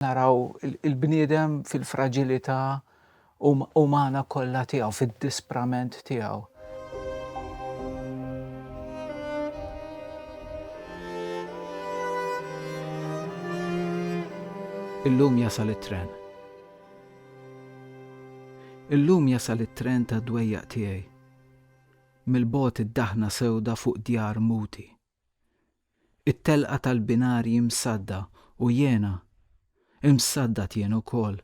naraw il-bniedem fil-fraġilità um-, umana kollha tiegħu, fid-disprament tiegħu. Illum jasal it-tren. Illum jasal it-tren ta' dwejjaq tiegħi. Mill-bot id-daħna sewda fuq djar muti. It-telqa tal-binarji msadda u jiena imsaddad jien ukoll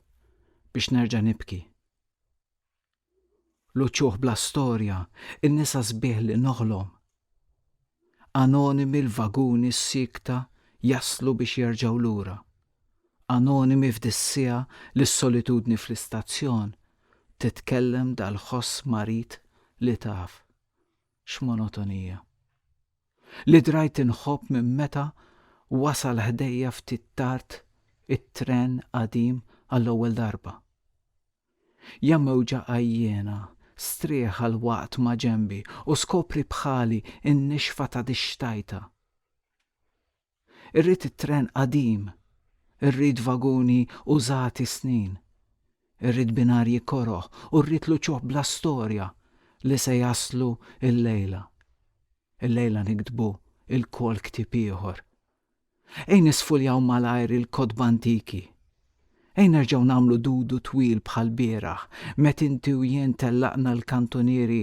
biex nerġa' nibki. L-uċuħ bla storja, in-nisa sbieħ li noħlom. Anonimi l-vaguni siekta jaslu biex jerġgħu lura. Anonimi f'dis-siegħa li s-solitudni fl-istazzjon titkellem dal-ħoss marid li taf. X'monotonija. Li drajt inħobb minn meta wasal ħdejja ftit tard it-tren qadim għall-ewwel darba. Ja mewġa għajjiena, strieħ għal waqt maġenbi u skopri bħali n-nixfa ta' dix-xtajta. Irrid it-tren qadim. Irrid vaguni użati snin. Irrid binarji koroh u rrid l-uċuħ bla storja li se jaslu illejla. Illejla niktbu lkoll ktieb ieħor. Ejn nisfuljaw malajr il-kotba antiki. Ejn nerġgħu nagħmlu dudu twil bħall-bieraħ met' inti u jien tellaqna l-kantunieri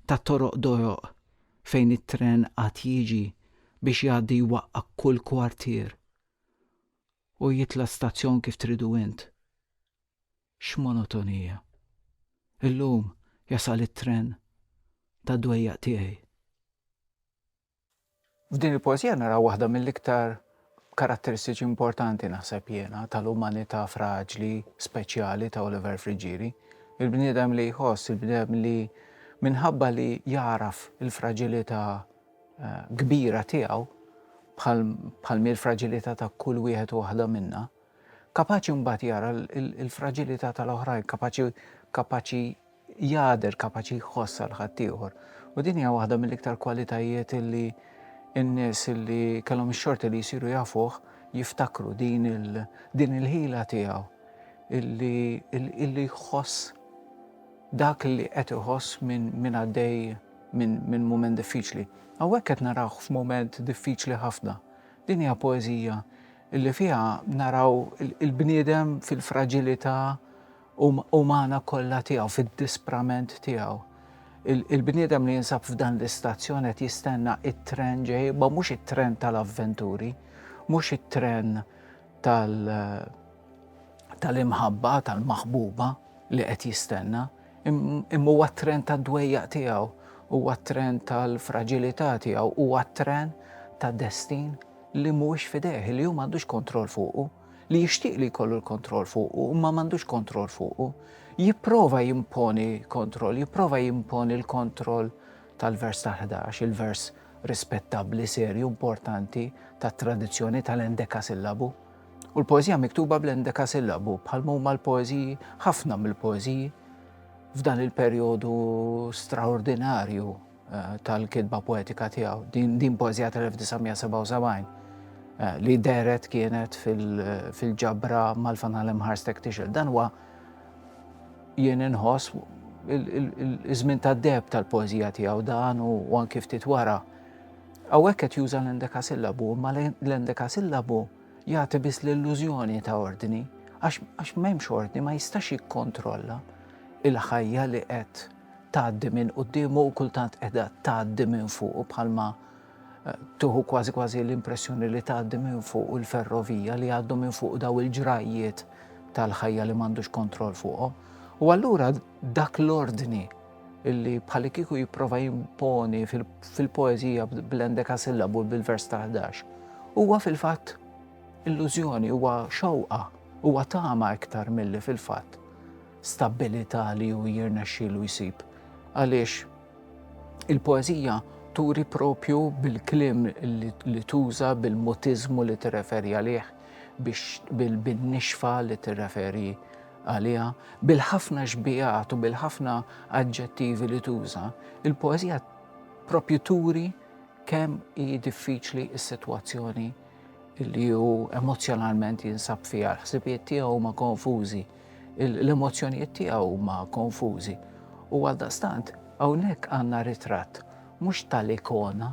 tat-toroq dojoq fejn it-tren għad jiġi biex jgħaddi jwaqqa' kull kwartier u jitla' stazzjon kif tridu int. X'monotonija! Illum jasal it-tren tad-dwejjaq tiegħi. F'din il-poeżija naraw waħda mill-iktar karatteristiċi importanti, naħseb jiena, tal-umanità fraġli, speċjali ta' Oliver Friggieri. Il-bniedem li jħoss, il-bniedem li minħabba li jagħraf il-fraġilità eh, kbira tiegħu, bħal mill fraġilità ta' kull wieħed u waħda minna, kapaċi mbagħad jara l-fraġilità tal-oħrajn, kapaċi kapaċi jagħder, kapaċi jħoss għal ħaddieħor. U din hija waħda mill-iktar kwalitajiet li n-nies li kellhom ix-xorti li jsiru jafuh jiftakru din il-ħila tiegħu illi jħoss dak li qed iħoss minn għaddej minn mument diffiċli. Hawnhekk qed narawh f'mument diffiċli ħafna. Din hija poeżija illi fiha naraw il-bniedem fil-fraġilità umana kollha tiegħu, fid-disprament tiegħu. Il-bniedem li jinsab f'dan l-istazzjon qed jistenna it-tren ġej, ma mhux it-tren tal-avventuri, mhux it-tren tal-imħabba, tal-maħbuba li qed jistenna, imma huwa t-tren tad-dwejjaq tiegħu, huwa t-tren tal-fraġilità tiegħu, huwa t-tren ta' destin li mhuwiex fidejh, li hu m'għandux kontroll fuqu. li jixtieq li jkollu l-kontroll fuqu, imma m'għandux kontroll fuqu, jipprova jimponi kontroll, jipprova jimponi l-kontroll tal-vers tal-11, il-vers rispettabbli, serju, importanti tat-tradizzjoni tal-endekasillabu. U l-poeżija miktuba bl-endekasillabu bħal huma l-poeżiji, ħafna mill-poeżiji f'dan il-perjodu straordinarju tal-kitba poetika tiegħu. Din, din poezija tal-1977 eh, li deret kienet fil-ġabra fil mal-fanal Imħarstek Tixel. Dan huwa jien inħoss iż-żmien tad-deb tal-poezija tiegħu dan u anki ftit wara. Hawnhekk qed juża l-endeka sillabu, ma l-endeka sillabu jagħti biss l-illużjoni ta' ordni, għax m'hemmx ordni ma jistax jikkontrolla il-ħajja li qed tgħaddi minn quddiemu u kultant qiegħda tgħaddi minn fuqu bħalma eh, tuħu kważi kważi l-impressjoni li tgħaddi minn fuq il-ferrovija li għaddu minn fuq daw il-ġrajjiet tal-ħajja li m'għandux kontroll fuqhom. U allura dak l-ordni illi bħali kiku jipprova jimponi fil-poezija bl-endeka sillabu bil-vers ta' 11. Huwa fil-fatt illużjoni, huwa xewqa, huwa tama iktar milli fil-fatt. stabbilità li hu jirnexxielu jsib għaliex il-poeżija turi propju bil-kliem li tuża bil-mutiżmu li tirreferi għalih biex bil-nixfa li tirreferi għaliha, bil-ħafna xbigħat u bil-ħafna aġġettivi li tuża, il-poeżija propju turi kemm hi diffiċli s-sitwazzjoni li hu emozjonalment jinsab fiha, l-ħsibijiet tiegħu huma konfużi. L-emozzjonijiet tiegħu huma konfużi u għaldaqstant hawnhekk għandna ritratt mhux tal-ikona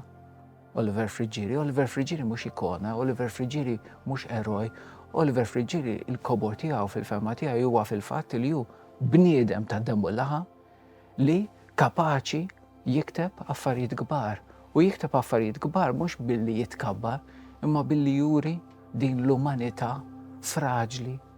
Oliver Friggieri. Oliver Friggieri mhux ikona, Oliver Friggieri mhux eroj, Oliver Friggieri il-kobor tiegħu fil-fema tiegħi huwa fil-fatt li hu bniedem ta' demmu laħa li kapaċi jikteb affarijiet kbar. U jikteb affarijiet kbar mhux billi jitkabbar, imma billi juri din l-umanità fraġli